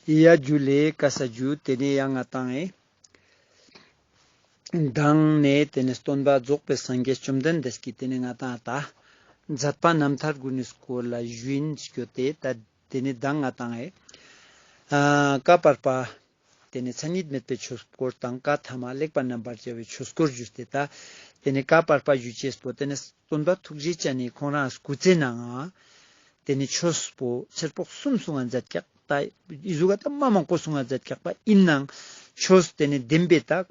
གཡས་རྒྱུ་ལས་ཀ་ས་རྒྱུ་དེ་ནས་ཡ་ང་བཏང་ངེ། བཏང་ནས་དེ་ནས་སྟོན་པ་རྫོགས་པའི་སངས་རྒྱས་བཅོམ་ལྡན་འདས་ཀྱིས་དེ་ནས་ང་བཏང་ཨ་ད། མཛད་པ་རྣམ་ཐར་དགུ་ནས་སྐོར་ལ་བཞིན་བསྐྱོད་དེ་ད་དེ་ནས་བདག་ང་བཏང་ངེ། བསྐལ་པར་པ། དེ་ནས་མཚན་ཉིད་མེད་པའི་ཆོས་སྐོར་དང་བཀའ་ཐ་མ་ལེགས་པར་རྣམ་པར་བཅད་པའི་ཆོས་སྐོར་བཞུགས་ཏེ་ད། དེ་ནས་བཀའ་བར་པ་བཞུ་ཆས་པོ་དེ་ནས་བཙུན་པ་ཐུགས་རྗེ་ཅན་ནས་ཁོང་རང་སྐུ་རྩེ་ན་ང། དེ་ནས་ཆོས་པོ་ཕྱིར་ཕོག་གསུམ་སུ་ང་མཛད་བཀྱག་ད་ཨིཟུ་ག་ད་མ་མང་པོ་སུ་ང་མཛད་བཀྱག་པ་ཨིན་ནང་ཆོས་དེ་ནས་བདེན་པའི་ད།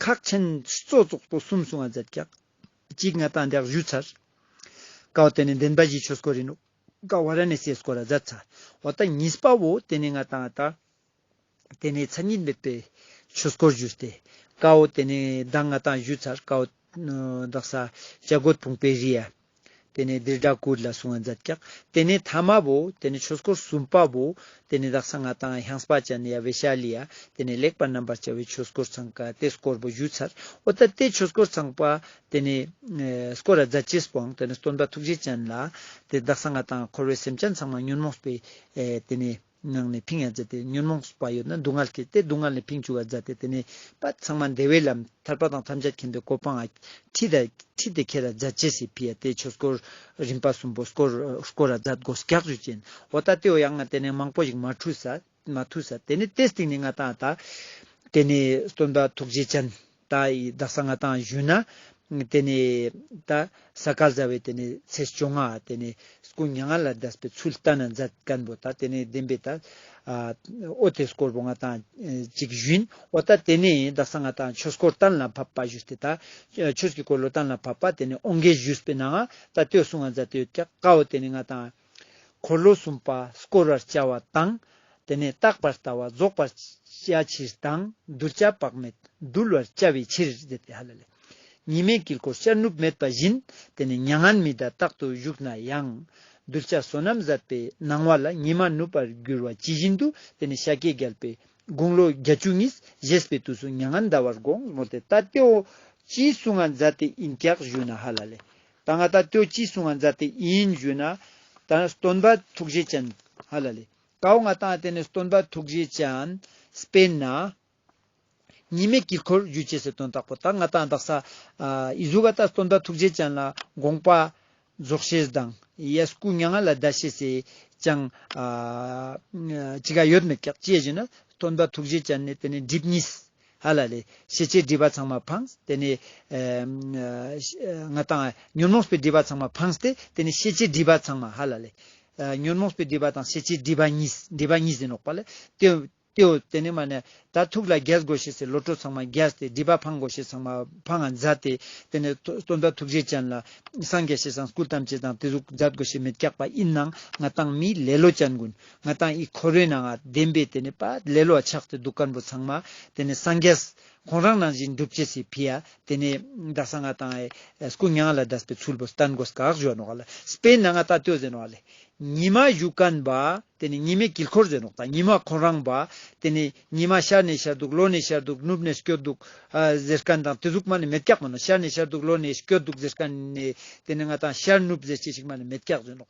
ཁག་ཆེན་སོ་སོགས་པོ་གསུམ་སུ་ང་མཛད་བཀྱག་གཅིག་ང་དང་འདེགས་བཞུ་ཚར། ཀའོ་དེ་ནས་བདེན་པ་བཞིའི་ཆོས་སྐོར་ཨིན་ནོ། ཀ་བ་ར་ནས་སའི་སྐོར་ར་མཛད་ཚར་བ་ད་ཉིས་པ་བོ་དེ་ནས་ང་དང་ད། དེ་ནས་མཚན་ཉིད་མེད་པའི་ཆོས་སྐོར་བརྗོད་དེ། ཀའོ་དེ་ནས་གདངས་ལྔ་དང་བཞུ་ཚར་ཀའོ། བདག་ས་སྐྱ་རྒོད་བུང་བའི་རི་ཡ། དེ་ནས་དིར་སྒྲ་ཀུ་རི་ལ་སོང་བ་འཛད་ཀྱག། དེ་ནས་དྷ་མ་བོ། དེ་ནས་ཆོས་སྐོར་གསུམ་པ་བོ། དེ་ནས་བདག་ས་ལྔ་དང་ཧྱང་སྤ་ཅན་ཡ་བེ་ཤ་ལི་ཡ། དེ་ནས་ལེགས་པར་རྣམ་པར་བྱ་བའི་ཆོས་སྐོར་ཚང་ཀ་ཏེ་སྐོར་བོ་བཞུ་ཚར་ཨོ་ད་ཏེ་ཆོས་སྐོར་ཚང་པ། དེ་ནས་སྐོར་ར་བཛྲ་ཅེས་པའང་དེ་ནས་སྟོན་པ་ཐུགས་རྗེ་ཅན་ལ། དེ་བདག་ས་ལྔ་དང་འཁོར་བའི་སེམས་ཅན་ཚང་མ་ཉོན་མོངས་པས་དེ་ནས། ངག་ནས་ཕིང་ཡང་བརྫད་དེ་ཉོན་མོངས་སུ་བ་ཡོད་ན་སྡུག་བསྔལ་སྐྱེ་སྟེ་སྡུག་བསྔལ་ནས་ཕིང་བཅུ་བ་བརྫད་དེ་དེ་ནས་པ་ཚང་མ་འདས་བའི་ལམ་ཐར་པ་དང་ཐམས་ཅད་མཁྱེན་པའི་གོ་འཕང་ཨ་ཁྲིད་དེ་ཁྲིད་དེ་ཁྱེད་ར་བཛྲ་ཇི་སྲིད་བྷི་ཡ་ཏའི་ཆོས་སྐོར་རིམ་པ་གསུམ་པོ་སྐོར་སྐོར་ར་བཛྲ་སྒོ་སྐྱག་ཆུ་ཅན་འོ་ད་ཏེའོ་ཡང་ང་དེ་ནས་མང་པོ་ཞིག་མ་འཁྲུས་ས་མ་ཐུས་ས་དེ་ནས་ཏེ་སྟིང་ནས་ང་ད་ད་དེ་ནས་སྟོན་པ་ཐུགས་རྗེ་ཅན། ད་ཡི་དག་ས་ལྔ་དང་བཞི་ན། དེ་ནས་ད་ས་སྐལ་བཟའ་བས་དེ་ནས་ཚེས་བཅོ་ལྔ་དེ་ནས་སྐུ་མྱ་ངན་ལ་བཟླས་པའི་ཚུལ་ལྟར་ན་མཛད་བསྐལ་པོ་དང་དེ་ནས་བདེན་པའི་ད་ཨོ་དེ་སྐོར་བུ་ལྔ་དང་གཅིག་བཞིན་ཨོ་ད་དེ་ནས་ད་ས་ལྔ་དང་ཆོས་སྐོར་གཏན་ལ་ཕབ་པ་བཞུགས་ཏེ་ད་ཆོས་ཀྱི་འཁོར་ལོ་གཏན་ལ་ཕབ་པ་དེ་ནས་ཨོ་འགའི་བཞུགས་པའི་ནང་ད་ཏོའི་གསུང་ང་མཛད་དུ་ཡོད་ཀྱི་ཀ་ཨོ་དེ་ནས་ལྔ་དང། འཁོར་ལོ་གསུམ་པ་བསྐོར་བར་བྱ་བ་དང། དེ་ནས་རྟག་པར་ལྟ་བ་རྫོགས་པར་བྱ་ཕྱིར་དང་གདུལ་བྱ་དཔག་མེད་འདུལ་བར་བྱ་བའི་ཕྱིར། གཉིས་མེད་དཀྱིལ་འཁོར་ཤར་ནུབ་མེད་པ་བཞིན་དེ་ནས་མྱ་ངན་མི་བདག་རྟག་ཏུ་བཞུགས་ན་ཡང། གདུལ་བྱ་བསོད་ནམས་ཟད་པའི་སྣང་བ་ལ་ཉི་མ་ནུབ་པར་འགྱུར་བ་ཇི་བཞིན་དུ་དེ་ནས་ཤཱཀྱའི་རྒྱལ་པོས་དགུང་ལོ་བརྒྱ་བཅུ་གཉིས་བཞེས་པའི་དུས་སུ་མྱ་ངན་འདའ་བར་དགོངས་མོ་དེ་ལྟ་སྟེ། ཨོ། ཅིའི་སུ་ང་འཛའ་སྟེ་ཨིན་སྐྱག་བཞུས་ན་ཧ་ལ་ལས། ད་ང་ད་ལྟོས་ཅི་གསུང་བ་མཛད་དེ་ཨིན་ཞུས་ན། ད་སྟོན་པ་ཐུགས་རྗེ་ཅན། ཧ་ལ་ལི། ཀའོ་ང་ཏང་དེ་ནི་སྟོན་པ་ཐུགས་རྗེ་ཅན། སྤེན་ན། ཉི་མའི་དཀྱིལ་འཁོར་རྒྱུད་ཅེས་སོ་དོན་དག་པོ་ད་ང་ད་འདག་ས། ཨི་ཟུ་བ་ད་སྟོན་པ་ཐུགས་རྗེ་ཅན་ལ་དགོངས་པ། རྫོགས་ཤེས་དང་ཡས་སྐུ་མྱ་ངན་ལ་བཟླ་ཤེས་སེ། ཅང། ཅི་ག་ཡོད་མི་བཀག་ཅེས་ཞུས་ན། སྟོན་པ་ཐུགས་རྗེ་ཅན་ནི་དེ་ནི་སྒྲིབ་གཉིས། ཧ་ལ་ལས། ཤེས་བྱའི་སྒྲིབ་པ་ཚང་མ་འཕངས། དེ་ནས། ང་དང། ཉོན་མོངས་པའི་སྒྲིབ་པ་ཚང་མ་འཕངས་ཏེ། དེ་ནས་ཤེས་བྱའི་སྒྲིབ་པ་ཚང་མ་ཧ་ལ་ལས། ཉོན་མོངས་པའི་སྒྲིབ་པ་དང་ཤེས་བྱའི་སྒྲིབ་པ་གཉིས། འདྲེས་པ་གཉིས་ཟིན་ལོག་པ་ལས། ལྟེའོ། དེ་ནས་མ་ནས། ད་ཐུགས་ལ་རྒྱལ་དགོས་ཤེས་སའི་བློ་གྲོས་ཚང་མ་རྒྱལ་ཏེ་སྒྲིབ་པ་འཕངས་དགོས་ཤེས་ཚང་མ་འཕངས་ང་མཛའ་སྟེ། དེ་ནས་སྟོན་ཟླ་ཐུགས་རྗེ་ཅན་ལ། སངས་རྒྱས་ཞེས་སངས་སྐུ་ཐམས་ཅད་དང་དེ་གཟུགས་མཛའ་དགོས་ཤེས་མི་རྐྱག་པ་ཡིན་ནང་ང་དང་མིའི་ལེ་ལོ་ཅན་ཀུན། ང་དང་ཨི་ཁོ་རོའི་ནང་བདེན་པའི་དེ་ནས་པ་ལེ་ལོ་ཆགས་ཏེ་འདུག་སྐར་འབུ་ཚང་མ་དེ་ནས་སངས་རྒྱས། ཁོང་རང་ནང་བཞིན་འགྲུབ་བྱེད་སི་ཕི་ཡ་དེ་ནས་རྡ་ས་ང་དང་ཨེ་སྐུ་ཉང་ལ་རྡ་པའི་ཚུལ་བོ་སྟན་གོ་སྐག་བཞོ་ནོག་ལ་སི་པེན་ནང་ང་ད་ཏོས་ཟེ་ནོག་ལེ། ཉི་མ་བཞུགས་གན་པ་དེ་ནས་ཉི་མའི་དཀྱིལ་འཁོར་ཟེ་ནོག་ད་ཉི་མ་ཁོང་རང་པ་དེ་ནས་ཉི་མ་ཤར་ནས་ཤར་འདུག་ལོ་ནས་ཤར་འདུག་ནུབ་ནས་སྐྱོ་འདུག་ཟེ་སྐན་དང་དེ་གཟུགས་མ་ནས་མེ་སྐྱག་མ་ནོ་ཤར་ནས་ཤར་འདུག་ལོ་ནས་སྐྱོ་འདུག་ཟེ་སྐན་ནས་དེ་ནས་ང་དང་ཤར་ནུབ་ཟེ་ཅི་ཞིག་མ་ནས་མེ་སྐྱག་ཟེ་ནོག་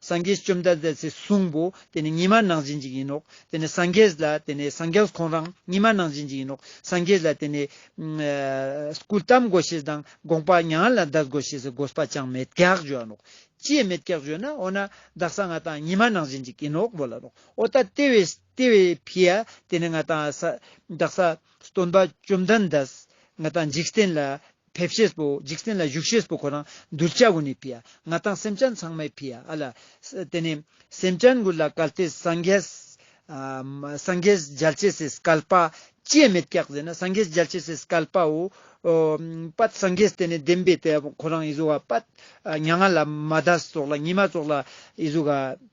སངས་རྒྱས་བཅོམ་ལྡན་འདས་ཚེ་གཟུངས་པོ་དེ་ནི་ཉི་མ་ནང་བཞིན་གྱི་ཡིན་ནོ། དེ་ནི་སངས་རྒྱས་ལ་དེ་ནི་སངས་རྒྱས་ཁོང་རང་ཉི་མ་ནང་བཞིན་གྱི་ཡིན་ནོ། སངས་རྒྱས་ལ་དེ་ནི། སྐུ་བལྟམས་དགོས་ཞེས་དང་དགོངས་པ་མྱ་ངན་ལ་བཟླས་དགོས་ཞེས་དགོས་པ་ཅང་མེད་གེགས་བརྗོད་ནོ། ཅིས་མེད་གེགས་བརྗོད་ན་འོ་ན་བདག་སང་ང་དང་ཉི་མ་ནང་བཞིན་གྱི་ཡིན་ནོ་བོ་ལ་ནོ། ཨོ་ད་དེ་བས་ཕི་ཡ་དེ་ནི་ང་དང་བདག་ས་སྟོན་པ་བཅོམ་ལྡན་འདས་ང་དང་འཇིག་རྟེན་ལ་ཕེབས་བཞེས་པོ་འཇིག་རྟེན་ལ་བཞུགས་བཞེས་པོ་ཁོ་རང་གདུལ་བྱ་དགུ་ནི་ཕིའ་ང་དང་སེམས་ཅན་ཚང་མའི་ཕིའ་ཨ་ལ། དེ་ནས་སེམས་ཅན་ཀུན་ལ་གལ་ཏེ་སངས་རྒྱས། སངས་རྒྱས་རྒྱལ་བྱེད་སེས་བསྐལ་པ། སྐྱེ་མེད་སྐྱེ་བཟེད་ན་སངས་རྒྱས་རྒྱལ་བྱེད་སེས་བསྐལ་པའོ། པདྨ་སངས་རྒྱས་དེ་ནས་བདེན་པའི་དེ་ཁོ་རང་ཨི་བཟོ་བ་པདྨ་མྱ་ངན་ལ་མ་ད་སོགས་ལ་ཉི་མ་སོགས་ལ་ཨི་བཟོ་ག།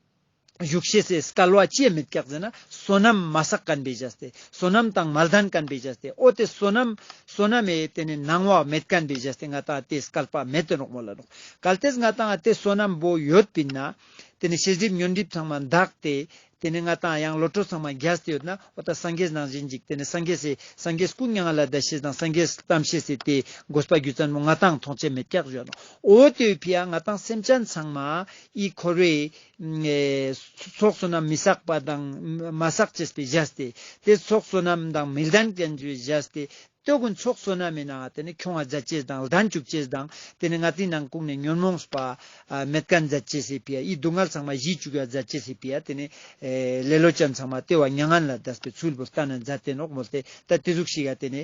བཞུགས་གཤེགས་སྲས་བསྐལ་བ་བཅས་མི་བསྐྱག་མཛད་ན་བསོད་ནམས་མ་བསགས་ཀན་པའི་ཇཱ་སྟེ་བསོད་ནམས་དང་མ་ལྡན་ཀན་པའི་ཇཱ་སྟེ་ཨོ་དེ་བསོད་ནམས་བསོད་ནམས་ཨེ་དེ་ནི་ནང་བག་མེད་ཀན་པའི་ཇཱ་སྟེ་ང་དང་དེས་བསྐལ་པ་མེད་དུ་འགྲོགས་མོ་ལ་འགྲོགས། གལ་ཏེ་ང་དང་དེ་བསོད་ནམས་པོ་ཡོད་པས་ན། དེ་ནི་ཕྱི་སྒྲིབ་ཉོན་སྒྲིབ་ཚང་མ་འདག་སྟེ། དེ་ནི་ང་དང་ཡང་བློ་གྲོས་ཚང་མ་རྒྱ་སྟེ་ཡོད་ན་ཨོ་ད་སངས་རྒྱས་ནང་བཞིན་འཇིག་དེ་ནི་སངས་རྒྱས་སྲས་སངས་རྒྱས་སྐུ་མྱ་ངན་ལ་དད་བྱེད་དང་སངས་རྒྱས་གཏམ་བཤད་སྲས་དེས་དགོས་པ་རྒྱུ་ཙམ་མོ་ང་དང་མཐོང་ཆེན་མི་བསྐྱག་ཇོ་ནང་ཨོ་དེ་བས་ཕི་ཡ་ང་དང་སེམས་ཅན་ཚང་མ་ཨི་འཁོར་བའི། ཚོགས་བསོད་ནམས་མི་བསགས་པ་དང། མ་བསགས་ཅེས་པའི་གཞས་ཏེ། དེ་ཚོགས་བསོད་ནམས་དང་མི་ལྡན་ཅན་གྱི་གཞས་ཏེ། སྟོད་གོས་ཚོགས་བསོད་ནམས་མེད་ན་དེ་ནི་ཁྱུང་བ་མཛད་ཅེས་དང་ལྡན་བཅུ་བཅས་དང། དེ་ནི་ང་ཏིའི་ནང་བཀུག་ནས་ཉོན་མོངས་པ་མེད་དཀའ་མཛད་ཅེས་པའི་ཡི་སྡུག་བསྔལ་ཚང་མ་གཞིས་བཅུ་ག་མཛད་ཅེས་པའི་ཡ་དེ་ནི། ལེ་ལོ་ཅན་ཚང་མ་ལྟེ་བ་མྱ་ངན་ལ་བཟླས་པའི་ཚུལ་བུར་བལྟ་ན་མཛད་དེ་ནོག་མོ་སྟེ་ད་དེ་གཟུགས་ཤིག་ཡ་དེ་ནི།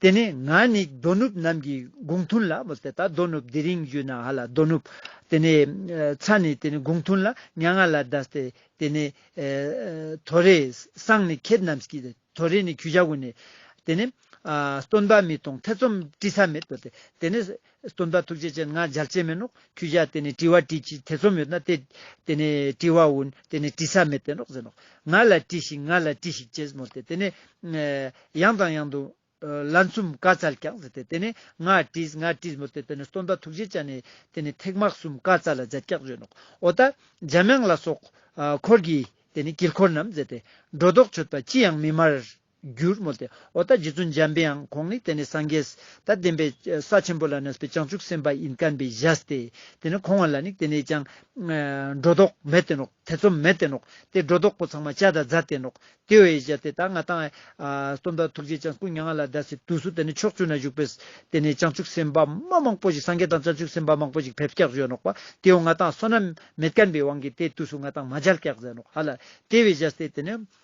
དེ་ནས་ང་ནི་དོ་ནུབ་རྣམས་ཀྱི་དགུང་ཐུན་ལ། དོ་ནུབ་དེ་རིང་བཞུགས་ན་ཧ་ལ་དོ་ནུབ། དེ་ནས་ཚ་ནི་དེ་ནི་དགུང་ཐུན་ལ་ཉག་ང་ལ་བཟླས་ཏེ། དེ་ནས་དོ་རེ། སང་ནི་ཁྱེད་རྣམས་ཀྱིས་དོ་རེ་ནི་གུ་བྱ་གུ་ནས། དེ་ནས་སྟོན་པ་མི་གཏོང་ཐེ་ཚོམ་བཀྲི་ས་མེད། དེ་ནས། སྟོན་པ་ཐུགས་རྗེ་ཅན་ང་འཇར་ཅན་མིན་ནོ་ཁྱོད་ཅག་དེ་ནས་དྲི་བ་དྲིས་ཅི་ཐེ་ཚོམ་ཡོད་ན་དེ་དེ་ནས་དྲི་བ་འོན་དེ་ནས་དྲི་ས་མེད་དེ་ནོ་ཟེར་ནོ་ང་ལ་དྲིས་ཤིག་ང་ལ་དྲིས་ཤིག་ཅེས་མོ་སྟེ་དེ་ནས་ཡང་དང་ཡང་དུ་ལན་གསུམ་བཀའ་སྩལ་ཀྱང་ཟེར་ཏེ་དེ་ནས་ང་དྲིས་ང་དྲིས་མོ་སྟེ་དེ་ནས་སྟོན་པ་ཐུགས་རྗེ་ཅན་ནས་དེ་ནས་ཐེག་དམག་གསུམ་བཀའ་སྩལ་ལ་འཛད་ཀྱང་བྱོན་ནོ་འོ་ད་འཇམ་དབྱངས་ལ་སོགས་འཁོར་གྱིས་དེ་ནས་དཀྱིལ་འཁོར་རྣམས་མཛད་དེ་སྒྲོ་འདོགས་ཆོད་པ་ཅི་ཡང་མི་སྨྲ། རྒྱུར་མོས་ཏེ་ཨོ་ད་རྗེ་བཙུན་འཇམ་པའང་ཁོང་ནི་དེ་ནས་སངས་རྒྱས་ད་བདེན་པའི་ས་ཆེན་པོ་ལ་གནས་པའི་བྱང་ཆུབ་སེམས་དཔའ་ཡིན་བསྟན་པའི་གཞལ་ཏེ་དེ་ནི་ཁོང་བ་ལ་ནི་དེ་ནས་ཀྱང། སྒྲོ་འདོགས་མེད་བསྟན་ནོ་ཐེ་ཚོམ་མེད་བསྟན་ནོ་དེ་སྒྲོ་འདོགས་པོ་ཚང་མ་བྱ་དང་རྫ་བསྟན་ནོ་དེ་བས་གཞལ་ཏེ་ད་ང་དང། སྟོན་པ་ཐུགས་རྗེ་ཅང་སྐུ་མྱ་ངན་ལ་བཟླས་སའི་དུས་སུ་དེ་ནི་ཕྱོགས་བཅུ་ན་བཞུགས་པས་དེ་ནས་བྱང་ཆུབ་སེམས་དཔའ་མ་མང་པོ་ཞིག་སངས་རྒྱས་དང་བྱང་ཆུབ་སེམས་དཔའ་མང་པོ་ཞིག་བེབས་སྐྱག་བྱོན་ནོ་པ་དེའོ་ང་དང་བསོད་ནམས་མེད་བསྐལ་པའི་དབང་གིས་དེའི་དུས་སུ་ང་དང་མ་བྱལ་སྐྱག་མཛད་ནོ་ཧ་ལ་དེ་བས་གཞལ་ཏེ་དེ་ནི་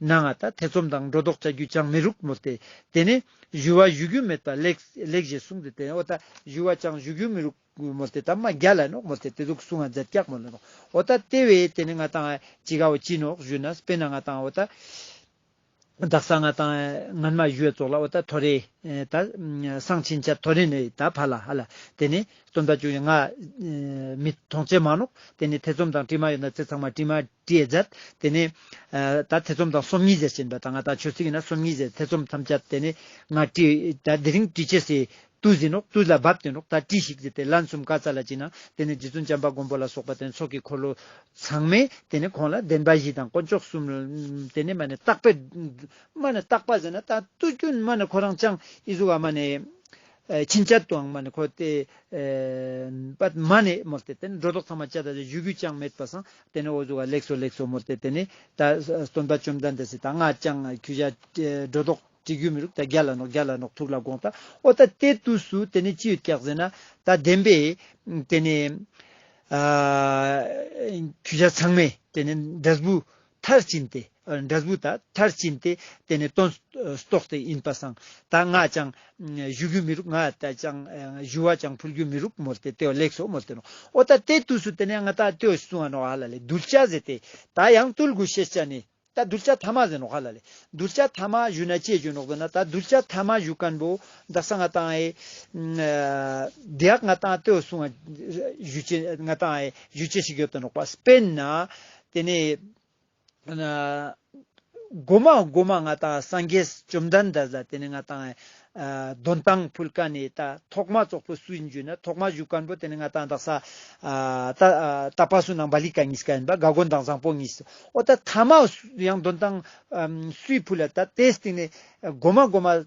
ན་ང་ད་ཐེ་ཚོམ་དང་སྒྲོ་འདོགས་བཅའ་རྒྱུ་ཅང་མི་རུག་མོ་སྟེ། དེ་ནས། བཞུ་བ་བཞུ་རྒྱུ་མེད་པ་ལེགས་ཞེས་གསུངས་ཏེ་དེ་ཨོ་ད་བཞུ་བ་ཅང་བཞུ་རྒྱུ་མི་རུག་མོ་སྟེ་ད་མ་རྒྱ་ལ་ནོག་མོ་སྟེ་དེ་ཚུགས་གསུངས་ང་འཛད་སྐྱག་མོ་ལ་ནོག་ཨོ་ད་ལྟེ་བས་དེ་ནས་ང་དང་ཅི་ག་བ་ཅི་ནོག་བཞུ་ན་སྤེན་ན་ང་དང་ཨོ་ད། བདག་ས་ང་དང་ངན་མ་བཞུ་བས་ཙོག་ལ་ཨོ་ད་ཐོ་རེ། ད། སང་ཕྱིན་ཆ་ཐོ་རེ་ནས་ད་བར་ལ་ཧ་ལ། དེ་ནས། སྟོན་ཟླ་བཅུ་ཡི་ང། མི་ཐོང་ཅེ་མ་ནོག་དེ་ནས་ཐེ་ཚོམ་དང་དྲི་མ་ཡོད་ན་ཚེ་ཚང་མ་དྲི་མ། ཀྲི་ཡས་སྦྱར། དེ་ནས། ད་ཐེ་ཚོམ་དང་སོམ་ཉི་ཟེར་ཞེས་པ་དང་ང་ད་ཆོས་ཚིག་ཡིན་ན་སོམ་ཉི་ཟེར་ཐེ་ཚོམ་ཐམས་ཅད་དེ་ནས། ང་ཀྲི། ད་དེ་རིང་ཀྲི་ཆེ་སེ། ཏུ་ཟིན་ནོ་ཏུ་ལ་བབས་ཏེ་འགྲོགས་ད་ཀྲི་ཞིག་ཟེར་ཏེ་ལན་གསུམ་བཀའ་སྩལ་ལ་བཅིངས་ན་དེ་ནས་རྗེ་བཙུན་བྱམས་པ་མགོན་པོ་ལ་སོགས་པ་དེ་ནས་ཚོགས་ཀྱི་འཁོར་ལོ། ཚང་མས་དེ་ནས་ཁོང་ལ་བདེན་པ་བཞི་དང་དཀོན་མཆོག་གསུམ། དེ་ནས་མ་ནས་རྟག་པའི། མ་ནས་རྟག་པ་ཟེར་ན་ད་ཏུ་ཀུན་མ་ནས་ཁོ་རང་ཅང་ཨི་གཟུགས་ཨ་མ་ནས། ཕྱིན་ཆད་དུའང་མ་ནི་འཁོར་ཏེ། པདྨ་ནི་མོ་སྟེ་དེ་ནི་སྒྲོ་འདོགས་ཚང་མ་བཅད་ད་དེ་བཞུད་རྒྱུ་ཅང་མེད་པར་སངས། དེ་ནས་འོ་ཟུག་ག་ལེགས་སོ་ལེགས་སོ་མོ་སྟེ་དེ་ནི་ད་གསོན་པ་བཅོམ་ལྡན་འདས་སི་ད་སྔ་ཅང་ཁྱུ་བཞག། སྒྲོ་འདོགས་བྲི་རྒྱུ་མི་རུག་ད་བརྒྱ་ལ་ནོག་བརྒྱ་ལ་ནོག་ཐུག་ལ་དགོངས་ད་ཨོ་ད་ལྟའི་དུས་སུ་དེ་ནི་ཅི་ཡོད་ཀྱག་ཟེར་ན། ད་བདེན་པས། དེ་ནི། ཁྱུ་བཞག་ཚང་མས་དེ་ནི་འདྲེ་བུ། མཐར་ཕྱིན་ཏེ། འདྲ་གཟུགས་དག་མཐར་ཕྱིན་ཏེ། དེ་ནི་སྟོན། རྟོག་དེ་ཡིན་པར་སངས། ད་ང་ཅང། བཞུ་རྒྱུ་མི་རུག་ང། ད་ཅང། བཞུ་བ་ཅང་འཕུར་རྒྱུ་མི་རུག་མོར་ཏེ་ཏེའོ་ལེགས་སོ་མོར་ཏེ་ནོ། ཨོ་ད་དེ་དུས་སུ་དེ་ནས་ང་ད་ཏེའོ་ཞེས་གསུང་བ་ནོ་ཨ་ལ་ལས་གདུལ་བྱ་ཟེར་ཏེ། ད་ཡང་བཏུལ་དགོས་ཤེས་བྱ་ནི། ད་གདུལ་བྱ་ཐ་མ་ཟེར་ནོ་ཨ་ལ་ལས། གདུལ་བྱ་ཐ་མ་བཞུ་ན་ཅེས་བརྗོད་ནོ་དགོས་ན་ད་གདུལ་བྱ་ཐ་མ་བཞུ་ཀན་པོ། ད་ས་ང་ཏང་ཨའི། དེའག་ང་ཏང་ཏེའོ་གསུང་བ། བཞུ་བྱེད་ང་ཏང་ཨའི་བཞུ་བྱེད་ཞིག་ཡོད་དོ་ནོག་པ་སྤེན་ན། དེ་ནས། སྒོ་མ་སྒོ་མ་ང་དང་སངས་རྒྱས་བཅོམ་ལྡན་འདས་ལ་དེ་ནས་ང་དང། གདོན་དང་ཕུལ་ཀ་ནས་ད་ཐོག་མ་ཙོག་པུ་སུ་ཡིན་བརྗོད་ན་ཐོག་མ་གཞུག་མཁན་པོ་དེ་ནས་ང་དང་བདག་ས། ད་པ་སུ་ནང་པ་ལི་ཀ་གཉིས་ཀ་ཡིན་པ་དགའ་དགོན་དང་བཟང་པོ་གཉིས། ཨོ་ད་ཐ་མ་ཡང་གདོན་དང་སུའི་ཕུལ་ལ་ད་དེའི་སྟེང་ནས་སྒོ་མ་སྒོ་མ།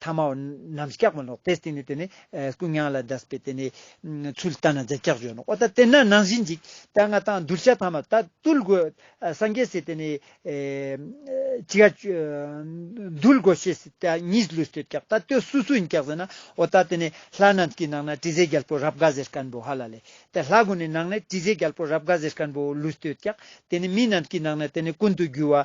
ཐ་མའོ། ནམ་སྐྱག་མ་ལོག་པས་བརྟེན་ནས་དེ་ནི་ཀུན་མྱང་ལ་བཟླས་པས་དེ་ནི། ཚུལ་བལྟ་ན་རྫས་སྐྱག་བརྗོད་ནོ། ཨོ་ད་དེ་ན་ནང་བཞིན་འཇིག། དཔལ་མངའ་ཐང་གདུལ་བྱ་ཐ་མ་ད་གདུལ་དགོས། སངས་རྒྱས་སྲས་དེ་ནི། ཅི་ཡ། གདུལ་དགོས་ཤེས་སྲིད་ད་གཉིས་ཀླུས་ལྟོས་སྐྱག་ད་ལྟོས་སུ་སུ་ཡིན་སྐྱག་ཟེར་ན། ཨོ་ད་དེ་ནི་ལྷ་རྣམས་ཀྱི་ནང་ན་དྲི་ཟའི་རྒྱལ་པོ་རབ་དགའ་ཟེར་སྐལ་བུ་ཧ་ལ་ལས། དེ་ལྷ་དགུ་ནི་ནང་ན་དྲི་ཟའི་རྒྱལ་པོ་རབ་དགའ་ཟེར་སྐལ་བུ་ལུས་ལྟོས་སྐྱག་དེ་ནི་མི་རྣམས་ཀྱི་ནང་ན་དེ་ནི་ཀུན་ཏུ་རྒྱུ་བ།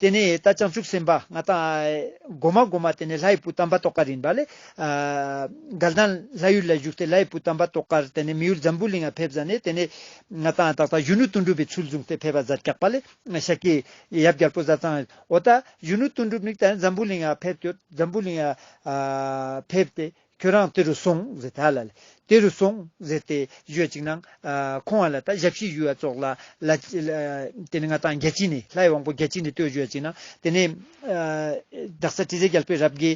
དེ་ནས་ད་བྱང་ཆུབ་སེམས་དཔའ་ང་དང། སྒོ་མ་སྒོ་མ་དེ་ནས་ལྷའི་བུ་དམ་པ་ཏོག་ཀ་རིན་པ་ལས། དགལ་དང། ལྷ་ཡུལ་ལ་བཞུགས་ཏེ་ལྷའི་བུ་དམ་པ་ཏོག་ཀར་དེ་ནས་མི་ཡུལ་འཛམ་བུའི་གླིང་ལ་ཕེབས་ས་ནས་དེ་ནས། ང་དང་ད་ལྟ་གཞོན་ནུ་གཏུན་གྲུབ་པའི་ཚུལ་བཟུང་སྟེ་ཕེབས་པ་བཟའ་སྐྱག་པ་ལས། ཤཀྱའི། ཡབ་རྒྱལ་པོ་བཟའ་ཚང། འོ་ད་གཞོན་ནུ་གཏུན་གྲུབ་ནི་ད་འཛམ་བུའི་གླིང་ལ་ཕེབས་ཏེ་འཛམ་བུའི་གླིང། ཕེབས་ཏེ། ཁྱོད་རང་དེ་རུ་སོང་ཟེར་ད་ལ། དེ་རུ་སོང་ཟེར་ཏེ་གཞོལ་ཅིག་ན། ཁོང་བ་ལ་ད་ཞབས་ཕྱི་ཡུལ་བ་ཙོག་ལ། དེ་ནི་ང་དང་རྒྱལ་སྤྱི་ནི་ལྷའི་དབང་པོ་རྒྱལ་སྤྱི་ནི་ལྟོས་གཞོལ་ཅིག་ན། དེ་ནི། བདག་ས་ཏྲི་ཟའི་རྒྱལ་པོའི་རབ་དགེ།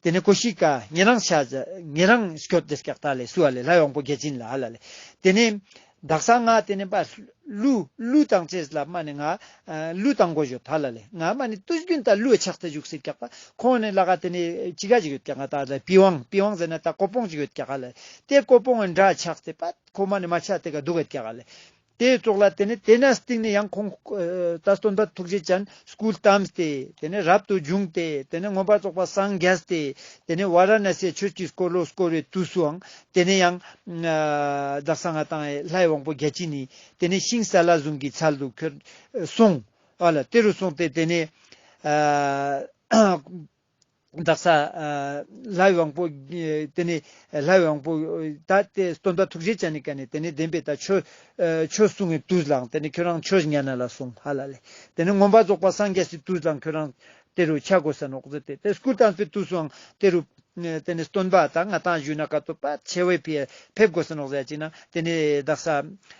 དེ་ནི་ཀོ་ཤི་ཀ། ངེད་རང་ཤ། ངེད་རང་ཤོད་དེ་སྐྱག་ད་ལས་སུ་བ་ལས་ལྷའི་དབང་པོ་རྒྱལ་སྤྱི་ནི་ལ་ལ། དེ་ནི། བདག་གསང་སྔགས་དེ་ནི་པ། ལུ། ལུས་དང་བཅས་ལ་མ་ནི་ང། ལུས་དང་མགོ་བཞོ་ད་ལ་ལས་ང་མ་ནི་ཏུར་གྱོན་ད་ལུས་ཕྱག་རྩེ་འཇུག་སེ་བཀྱག་པ་ཁོང་ནི་ལ་ག་དེ་ནི་ཅི་ག་ཅིག་ཡོད་བཀྱག་ག་ད་ལ་པི་ཝང་པི་ཝང་ཟེར་ན་ད་ཀོ་པོང་ཅིག་ཡོད་བཀྱག་ག་ལ་ཏེ་ཀོ་པོང་ཨ་འདྲ་ཕྱག་རྩེ་པ་ཁོ་མ་ནི་མ་ཕྱག་དེ་ག་སྡུག་ག་བཀྱག་ག་ལ་ཏེ་བཙོག་ལ་དེ་ནི་དེ་ན་སྟེང་ནི་ཡང་ཁོང་ད་སྟོན་པ་ཐུགས་རྗེ་ཅན། School Terms། དེ་ནས་རབ་ཏུ་བྱུང་སྟེ་དེ་ནས་མངོན་པར་རྫོགས་པ་སངས་རྒྱས་ཏེ། དེ་ནས་བཱ་ར་ན་སའི་ཆོས་ཀྱི་སྐོར་ལོ་སྐོར་བའི་དུས་སུའང་དེ་ནས་ཡང། བདག་སང་ངེ་དང་ལྷའི་དབང་པོ་བརྒྱད་ཅིས་ནི་དེ་ནས་ཤིང་སཱ་ལ་བཟུང་གི་ཚལ་དུ་ཁྱོད་སོང། ཨ་ལ་དེ་རུ་སོང་སྟེ་དེ་ནས། བདག་ས་ལྷའི་དབང་པོ། དེ་ནས་ལྷའི་དབང་པོ། ད་ལྟའི་སྟོན་ཟླ་ཐུགས་རྗེ་ཅན་ནི་ཀ་ནས་དེ་ནས་བདེན་པའི་ད་ཆོས། ཆོས་སྲུང་བའི་དུས་ལའང་དེ་ནས་ཁྱོད་རང་ཆོས་ཉན་ན་ལ་སྲུང་ཧ་ལ་ལས། དེ་ནས་མངོན་པར་རྫོགས་པར་སངས་རྒྱས་སའི་དུས་ལའང་ཁྱོད་རང། དེ་རུ་ཆ་བགོས་ས་ནོག་རྫི་སྟེ་དེ་སྐུ་བལྟམས་པའི་དུས་སུའང་དེ་རུ། དེ་ནས་སྟོན་པ་ད་ང་ཐང་བཞུགས་ན་ཀ་ཏོ་པད་ཆེ་བས་ཕེབས་དགོས་ས་ནོག་ཟས་ཅིག་ན་དེ་ནས་བདག་ས།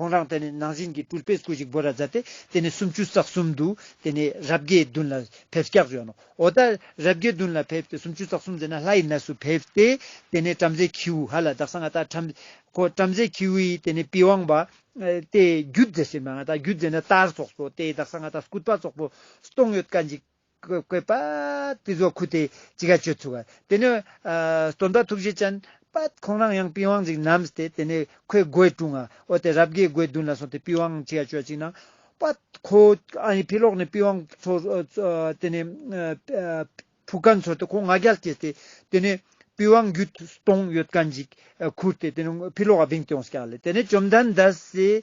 ཁོང་རང་དེ་ནས་ནང་བཞིན་གྱི་ཏུར་པེས་སྐུ་ཞིག་སྦོ་ར་མཛད་དེ་དེ་ནས་སུམ་ཅུ་རྩ་གསུམ་དུ་དེ་ནས་རབ་དགའི་མདུན་ལ་ཕེབས་སྐྱག་བྱོན་ནོ། འོ་ད་རབ་དགའི་མདུན་ལ་ཕེབས་ཏེ་སུམ་ཅུ་རྩ་གསུམ་མཛད་ན་ལྷ་ཡི་གནས་སུ་ཕེབས་ཏེ་དེ་ནས་བྲམ་ཟེ་ཁྱེའུ་ཧ་ལ་བདག་སང་ང་ད་བྲམ། ཁོ་བྲམ་ཟེ་ཁྱེའུ་ཡིས་དེ་ནས་པི་ཝང་བ། ཏའི་རྒྱུད་མཛད་ཟིན་པ་ང་ད་རྒྱུད་མཛད་ན་ཏར་ཚོགས་སོ་ཏའི་བདག་སང་ང་ད་སྐུད་པ་ཙོག་པོ་སྟོང་ཡོད་ཀ་འཇིག། བཀོད་པ། ཏི་རྫོགས་སྐུ་སྟེ་ཅི་དགའ་སྤྱོད་ཚུལ་བ། དེ་ནས། སྟོན་པ་ཐུགས་རྗེ་ཅན། པདྨ་ཁོང་རང་ཡང་པི་ཝང་གཅིག་བསྣམས་ཏེ་དེ་ནས་ཁོའི་སྒོའི་དྲུང་ང་འོ་དེ་རབ་དགའི་སྒོའི་མདུན་ལ་སོང་སྟེ་པི་ཝང་ཅི་དགའ་སྤྱོད་ཅིག་གནང། པདྨ་ཁོ། ཨ་ཡི་ཕི་ལོག་ནས་པི་ཝང་ཚོར། དེ་ནས། བུ་ག་འཚོལ་ཏེ་ཁོ་ང་རྒྱལ་སྐྱེས་ཏེ། དེ་ནས། པི་ཝང་རྒྱུད་སྟོང་ཡོད་ཀ་འཇིག། ཁུར་ཏེ་དེ་ནས་ཕི་ལོག་ག་བིང་སྟེ་ཡོངས་སུ་བསྐྱལ། དེ་ནས་བཅོམ་ལྡན་འདས།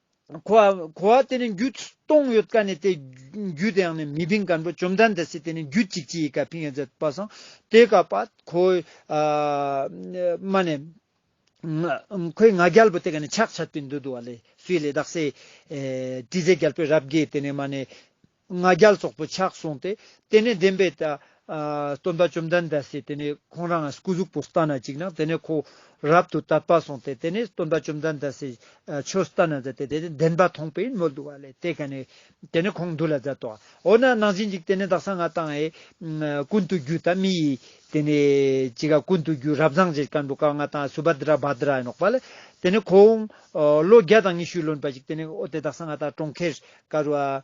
གོ་བ་དེ་ནི་རྒྱུ་སྟོང་ཡོད་དཀའ་ནི་དེ་རྒྱུ་དེའང་ནི་མི་ཕིང་དཀར་འགྲོ་བཅོམ་ལྡན་འདས་སྲིད་དེ་ནི་རྒྱུ་གཅིག་ཅི་ཡི་དཀའ་ཕིང་ཡོད་ཛད་པ་སང་དེ་ག་པ་ཁོ་མ་ནི་ཁོའི་ང་རྒྱལ་པོ་དེ་ག་ནི་ཆག་ཆག་པི་འདུ་འདུ་བ་ལས་སུའི་ལས་དག་སའི་དྲི་ཟའི་རྒྱལ་པོའི་རབ་དགེ་དེ་ནི་མ་ནི། ང་རྒྱལ་སོགས་པོ་ཆགས་གསུངས་ཏེ། དེ་ནས་བདེན་པའི། སྟོན་པ་བཅོམ་ལྡན་འདས་སུ་དེ་ནས་ཁོང་རང་སྐུ་གཟུགས་པོ་ལྟ་ན་ཅིག་ན་དེ་ནས་ཁོ། རབ་ཏུ་དད་པ་གསུངས་ཏེ་དེ་ནས་སྟོན་པ་བཅོམ་ལྡན་འདས་སུ། ཆོས་ལྟ་ན་མཛད་དེ་དེ་ནས་བདེན་པ་མཐོང་པས་མོ་བསྡུ་བ་ལས་དེ་ག་ནས། དེ་ནས་ཁོང་བསྡུ་ལ་མཛད་དོ། འོ་ན་ནང་བཞིན་ཅིག་དེ་ནས་བདག་གསང་སྔགས་དང་ཨེ། ཀུན་ཏུ་རྒྱུད་དང་མི་ཡི། དེ་ནས་ཅིག་ཨ་ཀུན་ཏུ་རྒྱུད་རབ་བཟང་རྗེ་སྐལ་མགོན་ཀ་ལྔ་དང་སུ་བཱ་དཱ་ར་བཱ་དཱ་ར་ཡི་ནོག་པ་ལ། དེ་ནས་ཁོང། ལོ་བརྒྱ་དང་ཉི་ཤུའི་ལོན་པ་ཅིག་དེ་ནས་འོ་དེ་བདག་གསང་སྔགས་དང་གྲོང་ཁྱེར། ཀ་རུ་ཨ།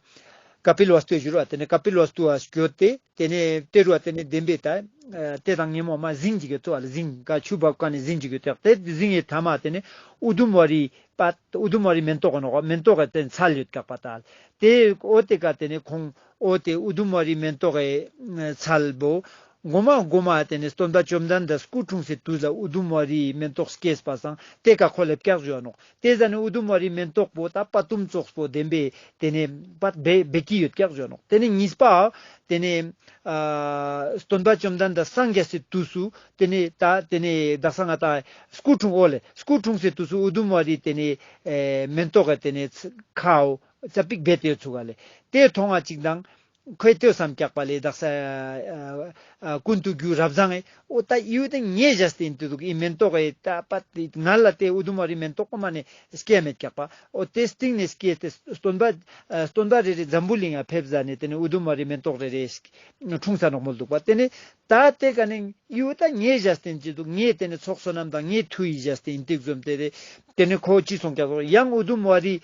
ཀཔི་ལོ་ཨསྟུ་ཞུ་རུ་ཨ་དེ་ནས་ཀཔི་ལོ་ཨསྟུ་ཨ་བསྐྱོད་དེ། དེ་ནས་ཏེ་རུ་ཨ་དེ་ནས་བདེན་པའི་ད། ཏེ་དང་ངན་མོ་མ་གཟིངས་ཅི་གི་ཏོ་ཨ་ལ་གཟིངས་ཀ་ཆུ་འབབ་ཀ་ནས་གཟིངས་ཅི་གི་ཏོ་ཨ་ཏེ་གཟིངས་ཨི་ཐ་མ་ཨ་དེ་ནས་ཨུ་དུམ་བ་རི་པ། ཨུ་དུམ་བ་རི་མེན་ཏོག་གི་ནོ་ཀ་མེན་ཏོག་གི་ཏེ་ཚ་ལུད་ཀག་པ་ཏ་ཨལ། ཏེ་ཨོ་ཏེ་ཀ་དེ་ནས་ཁོང་ཨོ་ཏེ་ཨུ་དུམ་བ་རི་མེན་ཏོག་གི་ཚ་ལ་བོ། མགོ་མ་སྒོ་མ་ཨ་དེ་ནས་སྟོན་པ་བཅོམ་ལྡན་འདས་སྐུ་འཁྲུངས་སའི་དུས་ལ་ཨུ་དུམ་བ་རིའི་མེན་ཏོག་སྐྱེས་པ་སངས་ཏེ་ཀ་ཁོ་ལ་བཀག་བྱོས་ཨ་ནོག་དེ་ཟ་ནི་ཨུ་དུམ་བ་རི་མེན་ཏོག་པོ་དང་པ་ཏུམ་ཙོགས་པོ་ལྡན་པས་དེ་ནས་པ་སྦས་སྦས་ཀྱི་ཡོད་ཀྱག་བྱོ་ནོག་དེ་ནས་གཉིས་པའོ། དེ་ནས། སྟོན་པ་བཅོམ་ལྡན་འདས་སངས་རྒྱས་སའི་དུས་སུ་དེ་ནས་ད་དེ་ནས་བདག་སང་ང་ད་སྐུ་འཁྲུངས་ཨོ་ལེ་སྐུ་འཁྲུངས་སའི་དུས་སུ་ཨུ་དུམ་བ་རི་དེ་ནས། མེན་ཏོག་ག་དེ་ནས་ཚ། ཁའོ། ཚ་པིག་སྦས་ཏེ་ཡོད་ཚུགས་ཨ་ལེ་དེ་མཐོང་བ་ཅིག་དང། ཁོས་ལྟོས་སམ་སྐྱག་པ་ལས་བདག་ཟ། ཀུན་ཏུ་རྒྱུ་རབ་བཟང། ཨོ་ད་ཡུལ་དེ་ངས་བཞག་ཟིན་ཏུ་འདུག་ཨི་མེན་ཏོག་ཨེ། ད་པ་དེ་ང་ལ་ལྟས་ཨུ་དུམ་བ་རི་མེན་ཏོག་ཨོ་མ་ནས་སྐྱེས་མེད་སྐྱག་པ། ཨོ་དེ་སྟེང་ནས་སྐྱེས་ཏེ་སྟོན་པ། སྟོན་པ་རེ་རེ་འཛམ་བུ་གླིང་ཡང་ཕེབས་ཟ་ནས་དེ་ནས་ཨུ་དུམ་བ་རི་མེན་ཏོག་རེ་རེ། འཁྲུངས་ས་ནོག་མོ་འདུག་པ་དེ་ནས། ད་དེ་ག་ནས་ཡུལ་ད་ངས་བཞག་ཟིན་ཅི་འདུག་ངས་དེ་ནས་ཚོགས་བསོད་ནམས་དང་ངས་མཐུ་ཡིས་བཞག་ཟིན་ཏིག་འཛོམས་ཏེ། དེ་ནས་ཁོ་ཅི་སོང་སྐྱག་ཟོ་ཡང་ཨུ་དུམ་བ་རི།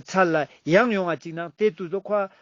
ཚར་ལ་ཡང་ཡོང་ང་ཅིག་ནང་དེ་དུ་ཟོ་ཁོ།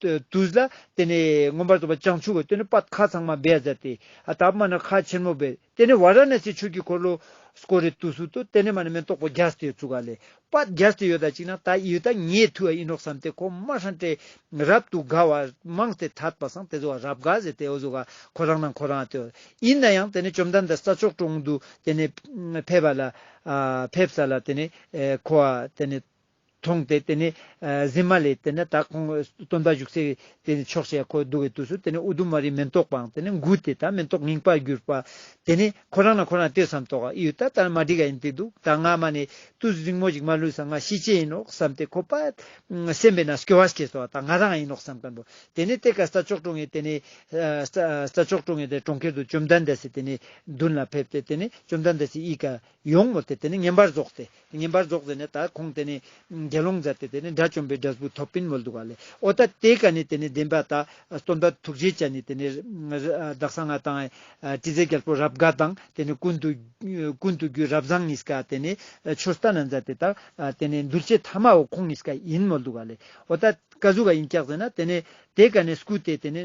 དུ་བཟའ། དེ་ནས་མངོན་པར་རྫོགས་པ་བྱང་ཆུབ་བ་སྟོན་ནི་པད་ཁ་ཚང་མ་སྦས་བཟའ་སྟེ། པདྨ་ནི་ཁ་ཆེན་མོ་སྦས། དེ་ནས་ཝཱ་ར་ཎཱ་སིའི་ཆོས་ཀྱི་འཁོར་ལོ། ཀོ་རེ་ཏུ་སུ་ཏུ་ཏེ་ནི་མ་ནི་མེ་ཏོག་པོ་བརྒྱ་སྟེ་བཙུགས་ག་ལས། པད་བརྒྱ་སྟེ་ཡོད་དག་ཅིག་ན་ད་ཡོད་དག་ངས་ཐུ་ཨ་ཨི་ནོག་བསམ་སྟེ་གོ་མ་ཧྲན་ཏེ། རབ་ཏུ་དགའ་བ་མང་སྟེ་ཐར་པ་སངས་ཏེ་བཟོ་བ་རབ་དགའ་ཟེ་སྟེ་བཟོ་ག་ཁོ་རང་དང་ཁོ་རང་སྟེ། ཡིན་ན་ཡང་དེ་ནས་བཅོམ་ལྡན་འདས་ས་ཕྱོགས་དྲུང་དུ་དེ་ནས་ཕེབས་པ་ལ། ཕེབས་ས་ལ་དེ་ནས་ཁོ་བ་དེ་ནས། མཐོང་སྟེ་དེ་ནས་གཟིམས་མ་ལས་དེ་ནས་ད་ཁོང་སྟོན་པ་བཞུགས་སའི་དེ་ནས་ཕྱོགས་ཞེས་ཁོ་འདུག་བའི་དུས་སུ་དེ་ནས་ཨུ་དུམ་མ་རིའི་མེ་ཏོག་པའང་དེ་ནས་འགུལ་ཏེ་ད་མེ་ཏོག་ངེངས་པར་གྱུར་པ། དེ་ནས་ཁོ་རང་ལ་ཁོ་རང་ལྟོས་སམ་དོགས་ཨ་ཡོད་ད་ད་ནི་མ་འགྲིག་ག་ཡིན་ཏེ་འདུག་ད་ང་མ་ནི་ཏུ་རིང་མོ་ཞིག་མ་ལུས་སམ་ང་ཤི་ཆེད་ཡིན་ནོ་བསམ་སྟེ་ཁོ་པ་སེམས་པས་ན་སྐྱོ་བ་སྐྱེས་སོ་ད་ང་རང་ཡིན་ནོ་བསམ་གིན་འདུག་དེ་ནས་དེ་ཀ་ས་ཅོག་ཀྲོང་ངེ་དེ་ནས་ས་ཅོག་ཀྲོང་ངེ་དེ་གྲོང་ཁྱེར་དུ་བཅོམ་ལྡན་འདས་སུ་དེ་ནས་མདུན་ལ་ཕེབས་ཏེ་དེ་ནས་བཅོམ་ལྡན་འདས་སུ་ཡིད་ཀ། ཡོང་ངོ་དེ་དེ་ནི་ངན་པར་རྫོགས་ཏེ། ངན་པར་རྫོགས་ཟེར་ནས་ད་ཁོང་དེ་ནི། དགེ་སློང་མཛའ་དེ་དེ་ནི་དགྲ་བཅོམ་པའི་སྒྲ་སྦུག་ཐོགས་པིན་མོལ་འདུག་ག་ལས་ཨོ་ད་དེ་ག་ནི་དེ་ནི་བདེན་པ་ད། སྟོན་པ་ཐུགས་རྗེའི་བྱ་ནི་དེ་ནི། བདག་གསང་སྔགས་དང། དྲི་ཟའི་རྒྱལ་པོ་རབ་དགའ་དང་དེ་ནི་ཀུན་དུ། ཀུན་དུ་རྒྱུའི་རབ་བཟང་ངིས་ཀ་དེ་ནི། ཆུ་རྟ་ན་མཛའ་དེ་དག་དེ་ནི་འདུལ་བྱེད་ཐ་མའོ་ཁོང་ངིས་ཀ་ཡིན་མོལ་འདུག་ག་ལས་ཨོ་ད། ཀ་གཟུགས་ཀ་ཡིན་ཀྱག་ཟེར་ན་དེ་ནི། དེ་ག་ནི་སྐུ་དེ་དེ་ནི།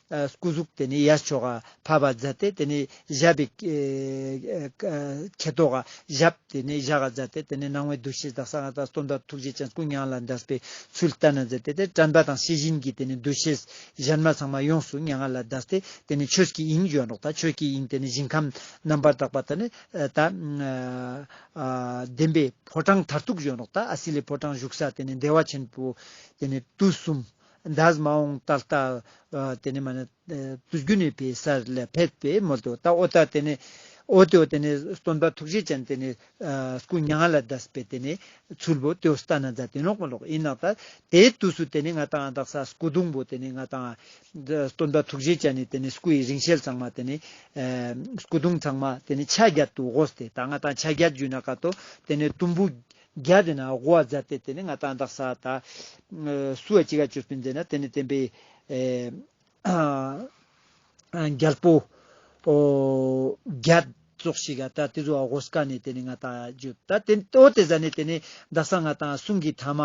སྐུ་གཟུགས་དེ་ནི་ཡར་ཕྱོགས་བར་བར་བརྫ་སྟེ་དེ་ནི་བཞད་པའི། ཁེ་དོག་བཞད་དེ་ནི་བཞག་བརྫ་སྟེ་དེ་ནི་སྣང་བའི་འདུ་ཤེས་དང་གསང་སྔགས་དང་སྟོང་པ་ཐུགས་རྗེ་ཅན་སྐུ་མྱང་ལ་འདྲ་བའི་ཚུལ་ལྟ་ན་བརྫ་སྟེ་དེ་དྲན་པ་དང་ཤེས་བཞིན་གྱི་དེ་ནི་འདུ་ཤེས་གཞན་མ་ཚང་མ་ཡོངས་སུ་མྱ་ངན་ལ་འདའ་སྟེ་དེ་ནི་ཆོས་ཀྱི་དབྱིངས་འཇོག་རོགས་དང་ཆོས་ཀྱི་དབྱིངས་དེ་ནི་ཞིང་ཁམས་རྣམ་པར་དག་པ་དང་ནི་ལྡན་པའི་ཕོ་བྲང་མཐར་ཐུག་འཇོག་རོགས་དང་ཨ་སི་ལའི་ཕོ་བྲང་བཞུགས་ས་དེ་ནི་བདེ་བ་ཆེན་པོ་དེ་ནི་དུས་གསུམ་འདས་མ་འོངས་ད་ལྟ། དེ་ནས་མ་ནི། བདུད་རྒྱུད་ནས་པའི་ས་ལ་ཕེབས་པས་མོ་དོ་ད་ཨོ་ད་དེ་ནས། ཨོ་དོ་དེ་ནས་སྟོན་པ་ཐུགས་རྗེ་ཅན་དེ་ནས། སྐུ་མྱ་ངན་ལ་བཟླས་པས་དེ་ནས། ཚུལ་བུ་དོ་ས་ཏྭ་ན་ཛཱ་དེ་ནོག་མ་ལོག་ཨི་ནག་ཏཱ། དེའི་དུས་སུ་དེ་ནས་ང་དང་ཨ་དག་ས་སྐུ་གདུང་བུ་དེ་ནས་ང་དང་ཨ། སྟོན་པ་ཐུགས་རྗེ་ཅན་ནས་དེ་ནས་སྐུ་ཡི་རིང་ཤེལ་ཚང་མ་དེ་ནས། སྐུ་གདུང་ཚང་མ་དེ་ནས་ཕྱག་རྒྱ་དུ་བོ་ཏེ་ད་ང་དང་ཕྱག་རྒྱ་རྒྱུད་ན་ཀ་ཏོ་དེ་ནས་དུམ་བུ། རྒྱ་དེ་ན་སྒོ་བ་རྫ་སྟེ་དེ་ནི་ང་དང་དག་ས་ད། སུ་བ་ཅི་ག་གཅོད་པའི་མཛད་ན་དེ་ནི་བསྟན་པའི། རྒྱལ་པོ། རྒྱ། རྫོགས་ཤིག་ག་ད་དེ་རྫོགས་བ་གོ་ས་ཀ་ནས་དེ་ནི་ང་དག་གཅོད་ད་དེ་ནི་ཨོ་དེ་ས་ནི་དེ་ནི་དག་ས་ང་དང་གསུང་གི་ཐ་མ།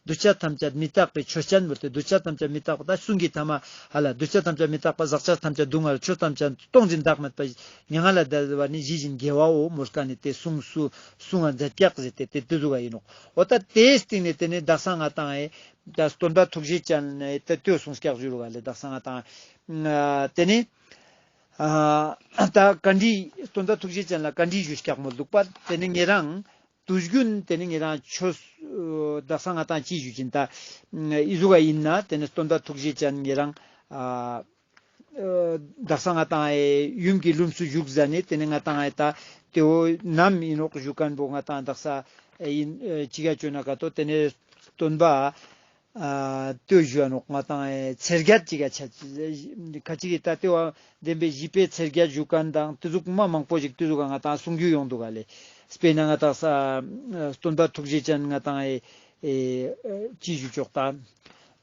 གདུལ་བྱ་ཐམས་ཅད་མི་རྟག་པའི་ཆོས་ཅན་བུར་ཏེ་གདུལ་བྱ་ཐམས་ཅད་མི་རྟག་པ་དང་གསུང་གི་ཐ་མ། ཧ་ལ་གདུལ་བྱ་ཐམས་ཅད་མི་རྟག་པ་ཟག་བཅག་ཐམས་ཅད་སྡུག་བསྔལ་ཆོས་ཐམས་ཅད་སྟོང་ཅིང་བདག་མེད་པ། མྱ་ངན་ལས་འདས་པ་ནི་ཇི་བཞིན་རྒྱལ་བའོ་མོ་ཀ་ནས་དེ་གསུངས་སུ་སུ་ང་འཛད་སྐྱག་ཟེར་ཏེ་དེ་དུ་བཟོ་བ་ཡིན་ནོ། འོ་ད་དེའི་སྟེང་ནས་དེ་ནས་བདག་སང་ང་དང། སྟོན་པ་ཐུགས་རྗེ་ཅན། དེ་སྟོད་སོང་སྐྱག་བཞུར་བ་ལས་བདག་སང་ང་དང། དེ་ནས། ད་བཀའ་འདྲི། སྟོན་པ་ཐུགས་རྗེ་ཅན་ལ་བཀའ་འདྲི་ཞུ་སྐྱག་མོ་ལུག་པ། དེ་ནས་ངེད་རང། དུ་བཞུ། དེ་ནས་ངེད་རང་ཆོས། བདག་སང་ང་དང་ཅི་བཞུ་ཅི་ད། ཨི་བཟོ་བ་ཡིན་ན་དེ་ནས་སྟོན་པ་ཐུགས་རྗེ་ཅན་ངེད་རང། བདག་ས་ང་དང་ཨའི་ཡུམ་གྱི་ལུམས་སུ་བཞུགས་གཟའ་ནི་དེ་ནི་ང་དང་ཨའི་ད་དེ་འོ་ནམ་ཡིན་ནོག་གཞུ་སྐལ་པོ་ང་དང་བདག་ས་ཨའི་ཡིན་ཅི་ག་ཅོ་ན་ག་ཏོ་དེ་ནི་སྟོན་པ་ཏོས་བཞུ་བ་ནོག་ང་དང་ཨའི་ཚེར་བརྒྱ་ཅི་ག་ཆ་ག་ཅི་གི་ད་དེ་བ་འདེམས་པའི་བཞི་པའི་ཚེར་བརྒྱ་བཞུ་སྐལ་དང་ཏི་ཟུག་མ་མང་པོ་ཅིག་ཏི་ཟུག་ག་ང་དང་གསུང་རྒྱུ་ཡོང་འདུག་ག་ལས་སྤེལ་ན་ང་དག་ས་སྟོན་པ་ཐུགས་རྗེ་ཅན་ང་དང་ཨའི་ཅི་བཞུ་ཅོག་ད།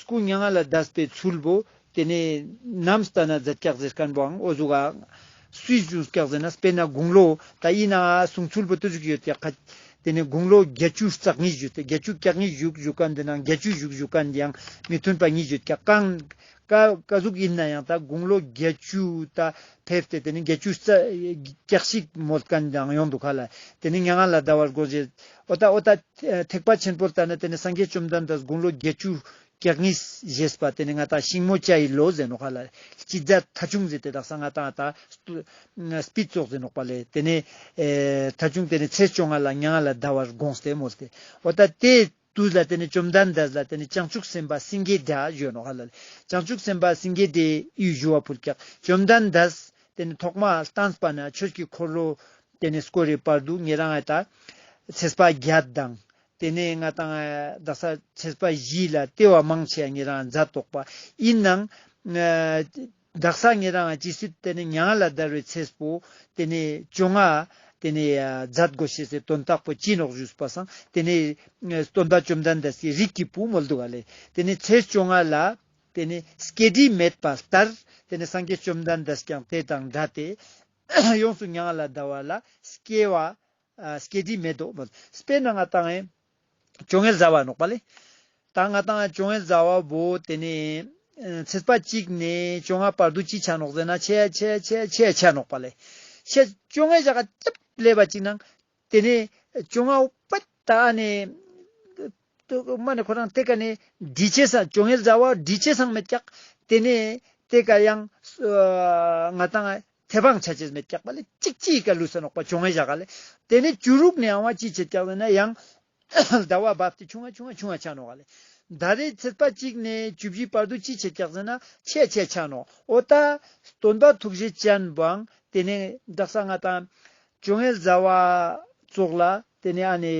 སྐུ་མྱ་ངན་ལ་བཟླས་པའི་ཚུལ་བུ། དེ་ནས་ནམ་སྟ་ན་རྫ་སྐྱག་རྫས་སྐམ་པོའང་ཨོ་གཟུགས་ཨ། སུའི་གཞུང་སྐྱག་རྫས་ན་སྤེལ་ན་དགུང་ལོ། ད་ཡིན་ནའང་ཨ་གསུང་ཚུལ་བུ་དུ་བཞུགས་ཡོད་དེ། དེ་ནས་དགུང་ལོ་བརྒྱད་ཅུ་རྩ་ལྔའི་བཞུགས་ཏེ་བརྒྱད་ཅུ་སྐྱག་ལྔའི་བཞུགས་བཞུགས་སྐབས་འདི་ནང་བརྒྱད་ཅུའི་བཞུགས་བཞུགས་སྐབས་འདིའང་མི་མཐུན་པ་གཉིས་བརྗོད་ཀྱང་རྐང། ཀ། ཀ་གཟུགས་ཡིན་ན་ཡང་ད་དགུང་ལོ་བརྒྱད་ཅུ་ད་ཕེབས་ཏེ་དེ་ནས་བརྒྱད་ཅུ་རྩ། སྐྱག་ཤིག་མོལ་སྐབས་འདིའང་ཡོང་འདུག་ག་ལ། དེ་ནས་མྱ་ངན་ལ་བཟླ་བར་བསྒོ་བྱའི། ཨོ་ཏཱ་ཨོ་ཏཱ། ཐེག་པ་ཆེན་པོར་བལྟ་ན་དེ་ནི་སངས་རྒྱས་བཅོམ་ལྡན་འདས་དགུང་ལོ་བརྒྱད་ཅུ་གྱ་གཉིས་བཞེས་པ་དེ་ནི་མངའ་བདག་ཤིང་མོ་བཅའ་ཡི་ལོ་ཟེར་ནོག་ཧ་ལ་ལྕི་ཛ་ཐ་ཆུང་ཟེར་དེ་དག་ས་མངའ་དང་དང། སྤིད་བཙོག་ཟེར་ནོག་པ་ལས་དེ་ནི། ཐ་ཆུང་དེ་ནི་ཚེས་བཅོ་ལྔ་ལ་ཉའ་ང་ལ་བཟླ་བར་དགོངས་སྟེ་མོ་སྟེ། ཨོ་ཏཱ་ཏའི་དུས་ལ་དེ་ནི་བཅོམ་ལྡན་འདས་ལ་དེ་ནི་བྱང་ཆུབ་སེམས་དཔའ་སེང་གེའི་སྒྲ་བརྗོད་ནོག་ཧ་ལ་ལས་བྱང་ཆུབ་སེམས་དཔའ་སེང་གེའི་སྒྲའི་གཡུལ་བཞུ་བ་ཕུར་བཀྱག་བཅོམ་ལྡན་འདས། དེ་ནི་ཐོག་མར་བསྟན་པ་ན་ཆོས་ཀྱི་འཁོར་ལོ་དེ་ནས་སྐོར་རེ་པར་སྡུག་བསྔལ་དང་ལྟ་ཚེས་པ་བརྒྱ་དང། དེ་ནས་ལྔ་དང་བདག་ས་ཚེས་པ་བཞི་ལ་ལྟེ་བ་མང་ཆེ་ངེད་རང་མཛའ་གཏོགས་པ་ཡིན་ནང། བདག་ས་ངེད་རང་ཇི་སྲིད་དེ་ནས་མྱང་ལ་བརྡར་བའི་ཚེས་པོ། དེ་ནས་བཅོ་ལྔ། དེ་ནས་མཛའ་སྒོ་ཕྱེ་ཚེ་དོན་རྟགས་པོ་སྤྱིན་རོག་བཞུགས་པ་བསང། དེ་ནས་སྟོན་ཟླ་བཅོམ་ཟླ་འདས་སའི་རིགས་ཀྱི་བུ་མོ་བསྡུ་བ་ལས། དེ་ནས་ཚེས་བཅོ་ལྔ་ལ། དེ་ནས་སྐྱེ་དྲི་མེད་པ་ལྟར། དེ་ནས་སངས་རྒྱས་བཅོམ་ཟླ་འདས་ཀྱང་དེ་དང་འདྲ་སྟེ། ཡོངས་སུ་མྱང་ལ་བཟླ་བ་ལ་སྐྱེ་བ། སྐྱེ་དྲི་མེད་དོ། སྤེལ་ན་ང་དང་ཨེ། ཅོ་ངེ་བཟའ་བ་ནོག་པ་ལས། ད་ང་དང་ཅོ་ངེ་བཟའ་བ་བོ་དེ་ནས། ཚེས་པ་གཅིག་ནས་བཅོ་ལྔ་བར་དུ་ཅི་བྱ་ནོག་ཟེར་ན་ཆེ་ཆེ་ཆེ་ཆེ་བྱ་ནོག་པ་ལས། ཤེས། ཅོ་ངེ་བྱ་ག་ཅབ་ལས་པ་གཅིག་ན། དེ་ནས་བཅོ་ལྔ་པ། ད་ནི། སྨྲ་ནི་ཁོ་རང་སྟེ་ཀ་ནི་འདྲིས་བྱེད་སང་བཅོ་ལྔའི་བཟའ་བ་འདྲིས་བྱེད་སང་མི་སྐྱག། དེ་ནས་སྟེ་ཀ་ཡང། ང་དང་དེ་བང་ཆ་བྱེད་མི་སྐྱག་པ་ལས་གཅིག་ཅིའི་ཀ་ལུས་སེ་ནོག་པ་བཅོ་ལྔའི་བཞག་ག་ལས། དེ་ནས་བཅུ་རུག་ནི་ཡང་བ་ཅིའི་བྱེད་སྐྱག་ཟེར་ན་ཡང། ཟླ་བ་བབས་ཏེ་ཆུང་བ་ཆུང་བ་ཆུང་བ་ཆགས་ནོ་ག་ལས། ཟླ་རེའི་ཚེས་པ་གཅིག་ནས་བཅུ་བཞིའི་བར་དུ་ཅི་བྱས་ཀྱག་ཟིན་ན་ཆད་ཆད་ཆགས་ནོ་འོ་ད། སྟོན་པ་ཐུགས་རྗེ་ཅན་བང་དེ་ནས་བདག་ས་ང་དང། བཅོ་ལྔའི་བཟའ་བ་བཙོག་ལ་དེ་ནས་ཨ་ནས།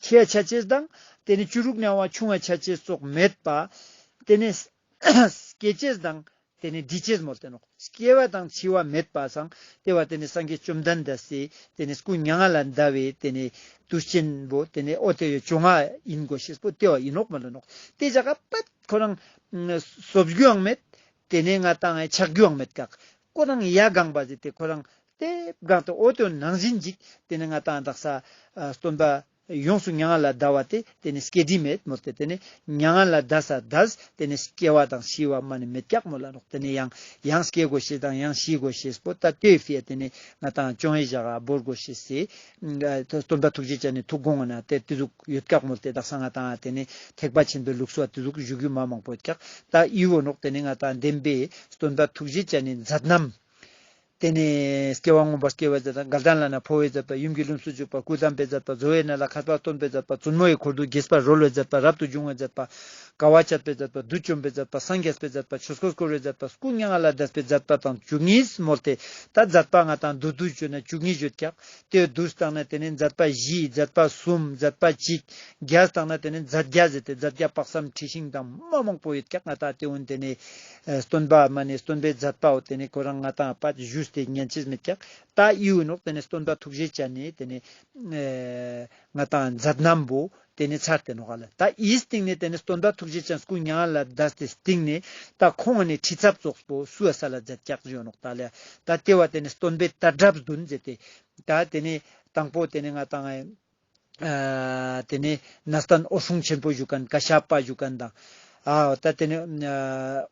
ཆད་ཆད་ཆད་དང་དེ་ནས་བཅུ་དྲུག་ནས་བ་ཆུང་བ་ཆད་ཆད་བཙོག་མེད་པ། དེ་ནས། སྐྱེ་བྱེད་དང། དེ་ནི་འདི་བྱེད་མོ་བསྟན་ནོ། སྐྱེ་བ་དང་འཆི་བ་མེད་པ་སངས་ཏེ་བ་དེ་ནི་སངས་རྒྱས་བཅོམ་ལྡན་འདས་སི། དེ་ནི་སྐུ་མྱ་ངན་ལས་འདའ་བའི་དེ་ནི་དུས་ཆེན་པོ་དེ་ནི་ཨོ་དེ་ཡོད་བྱུང་ང་ཡིན་གོ་ཤེས་པོ་ཏེ་བ་ཡིན་ནོག་མ་ལོན་ནོག་དེ་ཇག་པ་ཁོ་རང། གསོབ་རྒྱུའང་མེད། དེ་ནི་ང་དང་ངའི་ཆགས་རྒྱུའང་མེད་གག། ཁོ་རང་ཡ་གང་པ་ཟི་དེ་ཁོ་རང། དེབ་གང་དེ་ཨོ་དེ་བ་ནང་བཞིན་འཇིག་དེ་ནི་ང་དང་བདག་ས། སྟོན་པ། ཡོངས་སུ་མྱ་ངན་ལ་བཟླ་བ་སྟེ་དེ་ནི་སྐྱེ་དྲི་མེད་མོ་སྟེ་དེ་ནི་མྱ་ངན་ལ་བཟླ་ས་བཟླས་དེ་ནི་སྐྱེ་བ་དང་ཤི་བ་མ་ནི་མི་རྒྱག་མོ་ལ་རོག་དེ་ནི་ཡང་ཡང་སྐྱེ་དགོས་ཤེས་དང་ཡང་ཤི་དགོས་ཤེས་པོ་ཏཱ་ཏའི་བྷིའ་དེ་ནི་ང་དང་ཅོང་ཧེ་བཞག་ག་བོར་དགོས་ཤེས་སི། སྟོན་པ་ཐུགས་རྗེ་ཅན་ནི་ཐུགས་དགོངས་ངོ་ན་དེ་དེ་ཟུག་ཡོད་བཀག་མོ་སྟེ་བདག་ས་ང་དང་དེ་ནི་ཐེག་པ་ཆེན་པོའི་ལུགས་སུ་བ་དེ་ཟུག་བཞུགས་རྒྱུ་མ་མང་པོ་བཀག་ཏཱ་ཨིའོ་རོག་དེ་ནི་ང་དང་ལྡན་པའི་སྟོན་པ་ཐུགས་རྗེ་ཅན་ནི་མཛད་རྣམས་དེ་ནས་སྐྱེ་བ་སྔོན་པོར་སྐྱེ་བའི་རྫས་དང་མགལ་དང་ལ་ནག་ཕོ་བའི་རྫས་དང་ཡུམ་གྱི་ལུམས་སུ་བཅུག་པ་སྐུ་བལྟམས་པའི་རྫས་དང་བཟོ་བའི་གནས་ལ་ཁ་སྤགས་སྟོན་པའི་རྫས་དང་བཙུན་མོ་ཡི་འཁོར་དུ་དགྱེས་པར་རོལ་བའི་རྫས་དང་རབ་ཏུ་འབྱུང་བའི་རྫས་དང། དགའ་བ་བྱེད་པའི་རྫས་དང་བདུད་བཅོམ་པའི་རྫས་དང་སངས་རྒྱས་པའི་རྫས་དང་ཆོས་སྐོར་བསྐོར་བའི་རྫས་དང་སྐུ་མྱ་ངན་ལས་འདས་པའི་རྫས་དང་དང་བཅུ་གཉིས་མོར་དེ་ལྟར་རྫས་པ་ལྔ་དང་བདུད་དུ་བརྗོད་ན་བཅུ་གཉིས་བརྗོད་ཀྱང། དེའི་བདུད་བརྟགས་ན་དེ་ནི་རྫས་པ་བཞི་རྫས་པ་གསུམ་རྫས་པ་གཅིག། བརྒྱད་བརྟགས་ན་དེ་ནི་རྫས་བརྒྱ་ཟེར་ཏེ་རྫས་བརྒྱ་དཔག་བསམ་འཁྲི་ཤིང་དང་མ་མོག་པོ་ཡོད་ཀྱང་ལྔ་དག་དེ་འོན་ཏེ་ནི། སྟོན་པའོ་མ་ནི་སྟོན་པའི་མཛད་པའོ་དེ་ནི་གོས་རང་ང་དང་པད་བཞུས་ཏེ་སྙན་ཆེས་མི་ཀྱག། ད་ཨིའོ་ནོག་དེ་ནི་སྟོན་པ་ཐུགས་རྗེ་ཅན་ནི་དེ་ནི། ང་དང་མཛད་རྣམས་བོ་དེ་ནི་ཚར་ཏེ་ནོག་ག་ལ་ད་ཨིའི་སྟེང་ནི་དེ་ནི་སྟོན་པ་ཐུགས་རྗེ་ཅན་སྐུ་མྱ་ང་ལ་བཟླས་ཏེ་སྟེང་ནི་ད་ཁོང་ང་ནི་ཁྲི་ཚབ་ཙོགས་པོ་སུའོ་ས་ལ་མཛད་ཀྱག་བཞུའོ་ནོག་ད་ལ་ད་ལྟེ་བ་དེ་ནི་སྟོན་པའི་ཏར་དྲབས་བདུན་མཛད་དེ། ད་དེ་ནི་དང་པོ་དེ་ནི་ང་དང། དེ་ནས་ན་སྟན་ཨོ་ཧྲུང་ཆེན་པོ་བཞུགས་མཁན་ཀ་ཤ་པ་བཞུགས་མཁན་དང། ད་དེ་ནས་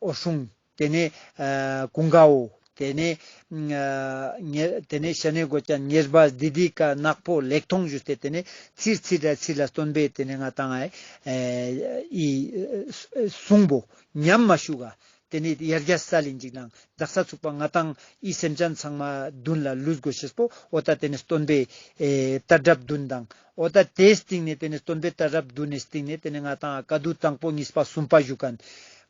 ཨོ་ཧྲུང། དེ་ནས་ཀུན་དགའ་བོ། དེ་ནས་དེ་ནས་ཤ་ནའི་གོ་ཅན་ཉེར་སྦ་སྡི་སྡི་ཀ་ནག་པོ་ལེགས་མཐོང་བཞུགས་ཏེ་དེ་ནས་ཚིག་ཚིག་སྒྲ་ཚིག་ལ་སྟོན་པས་དེ་ནས་ང་དང་ཨ་ཨི་གསུངས་བོ། ཉམས་མ་ཞུགས་ཨ་དེ་ནས་ཡར་རྒྱ་ས་ལས་འཇིགས་དང་འཛག་ས་ཚུགས་པ་ང་དང་ཨི་སེམས་ཅན་ཚང་མ་བདུན་ལ་ལུས་དགོས་ཤེས་པོ་ཨོ་ད་དེ་ནས་སྟོན་པའི་རྟ་རབ་བདུན་དང་ཨོ་ད་དེའི་སྟེང་ནས་དེ་ནས་སྟོན་པའི་རྟ་རབ་བདུན་ནས་སྟེང་ནས་དེ་ནས་ང་དང་ཨ་ཀ་དུ་དང་པོ་གཉིས་པ་གསུམ་པ་བཞུགས་གནས་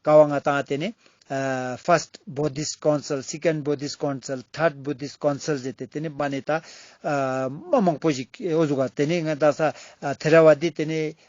ཀ་བ་ང་དང་ཨ་དེ་ནས First Buddhist Council Second Buddhist Council Third Buddhist Council ཟེར་ཏེ་དེ་ནས་པ་ནས་ད་མ་མང་པོ་ཞིག་ཨོ་བཞུགས་ག་དེ་ནས་ང་དང་ས་ཐེ་ར་བ་དེ་དེ་ནས་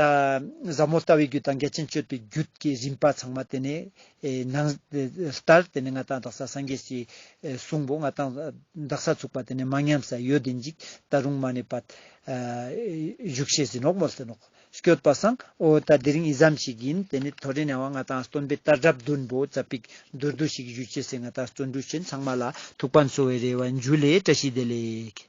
ཟབ་མོ་ལྟ་བའི་རྒྱུད་དང་འགལ་ཕྱིན་གཅོད་པའི་རྒྱུད་ཀྱི་རིམ་པ་ཚང་མ་དེ་ནས་ནང། ལྟར་དེ་ནས་མངའ་བདག་འདག་ས་སངས་རྒྱས་ཀྱིས་གསུངས་པོ་མངའ་བདག་འདག་ས་ཚུགས་པ་དེ་ནས་མ་ཉམས་ས་ཡོད་དེ་འཇིག་ལྟ་རུང་མ་ནས་པདྨ་བཞུགས་ཤེས་ཟིན་ནོག་མོ་ཟིན་ནོག་བསྐྱོད་པ་སངས་ཨོ་ད་དེ་རིང་ཡིད་ཙམ་ཞིག་ཡིན་དེ་ནས་ཐོ་རེ་ནས་བ་མངའ་བདག་སྟོན་པའི་ལྟར་གྲབ་བདུན་པོ་ཛཔ྄་པིག་མདོར་བསྡུས་ཤིག་བཞུད་ཅེས་སེ་མངའ་བདག་བརྩོན་འགྲུས་ཆེན་ཚང་མ་ལ་ཐུགས་ཕན་གསོ་བའི་རེ་བ་འཇུ་ལེ་བཀྲ་ཤིས་བདེ་ལེགས།